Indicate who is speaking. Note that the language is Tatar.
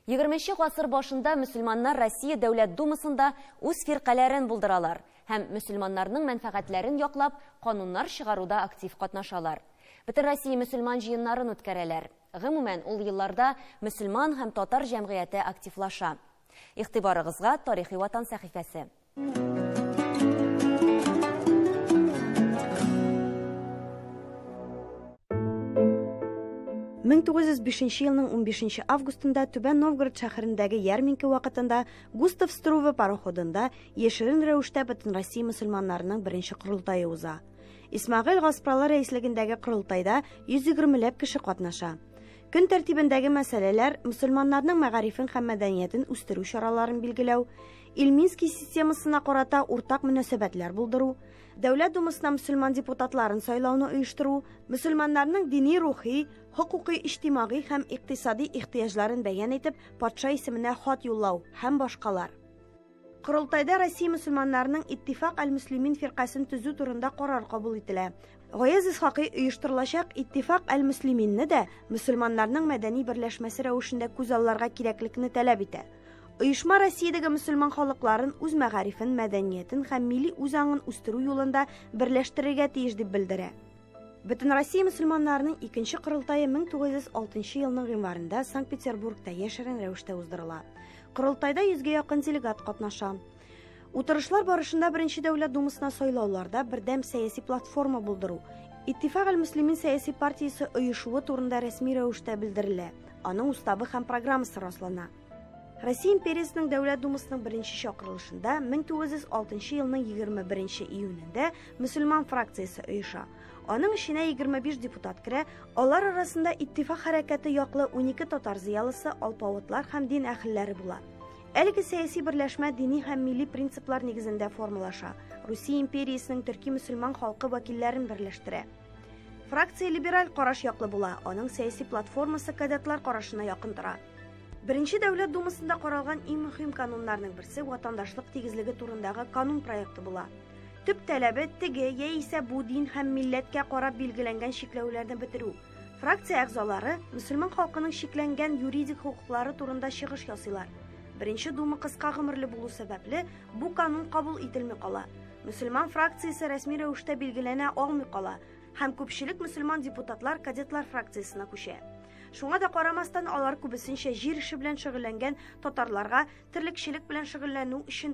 Speaker 1: Егерменче гасыр башында мөселманнар Россия Дәүләт Думасында үз фиркаләрен булдыралар һәм мөселманнарның мәнфәгатьләрен яклап кануннар чыгаруда актив катнашалар. Бөтенроссия мөселман җыеннарын үткәрәләр. Гомумән, ул елларда мөселман һәм татар җәмгыяте активлаша. Игътибарыгызга Тарихи ватан сәхифәсе.
Speaker 2: Мең тугыз йөз бишенче елның унбишенче августында Түбән Новгород шәһәрендәге ярминке вакытында Густав Струве пароходында яшерен рәвештә Бөтенроссия мөселманнарының беренче корылтае уза. Исмагыйль Гаспралы рәислегендәге корылтайда 120 ләп кеше катнаша. Көн тәртибендәге мәсьәләләр мөселманнарның мәгарифен һәм мәдәниятен үстерү чараларын билгеләү, Ильминский системасына карата уртак мөнәсәбәтләр булдыру, Дәүләт Думасына мөселман депутатларын сайлауны оештыру, мөселманнарның дини-рухи, хокукый-иҗтимагый һәм икътисади ихтыяҗларын бәян итеп, патша исеменә хат юллау һәм башкалар. Корылтайда Россия мөселманнарының Иттифак әл-Мөслимин фиркасен төзү турында карар кабул ителә. Гаяз Исхакый оештырылачак Иттифак әл-Мөслиминне дә мөселманнарның мәдәни берләшмәсе рәвешендә күз алларга кирәклекне таләп итә. Оешма Россиядәге мөселман халыкларын, үз мәгарифен, мәдәниятен һәм милли үзаңын үстерү юлында берләштерергә тиеш дип белдерә. Бөтенроссия мөселманнарының икенче корылтае 1906 елның гыйнварында Санкт-Петербургта яшерен рәвештә уздырыла. Корылтайда йөзгә якын делегат катнаша. Утырышлар барышында Беренче дәүләт думасына сайлауларда бердәм сәяси платформа булдыру, Иттифак аль-Муслимин сәяси партиясе оешуы турында рәсми рәвештә белдерелә, аның уставы һәм программасы раслана. Россия империясының Дәүләт думасының беренче чакырылышында 1906 елның 21 июнендә мөселман фракциясе оеша. Аның эченә 25 депутат керә, алар арасында Иттифак хәрәкәте яклы 12 татар зыялысы, алпавытлар һәм дин әһелләре була. Әлеге сәяси берләшмә дини һәм милли принциплар нигезендә формалаша, Русия империясенең төрки мөселман халкы вәкилләрен берләштерә. Фракция либераль караш яклы була, аның сәяси платформасы кадетлар карашына якын тора. Беренче дәүләт думасында каралган иң мөһим кануннарның берсе ватандашлык тигезлеге турындагы канун проекты була. Төп таләбе теге яисә бу дин һәм милләткә карап билгеләнгән чикләүләрне бетерү. Фракция әгъзалары мөселман халкының шикләнгән юридик хокуклары турында чыгыш ясыйлар. Беренче дума кыска гомерле булу сәбәпле, бу канун кабул ителми кала. Мөселман фракциясе рәсми рәвештә билгеләнә алмый кала һәм күпчелек мөселман депутатлар кадетлар фракциясенә күчә. Шуңа да карамастан, алар күбесенчә җир эше белән шөгыльләнгән татарларга терлекчелек белән шөгыльләнү өчен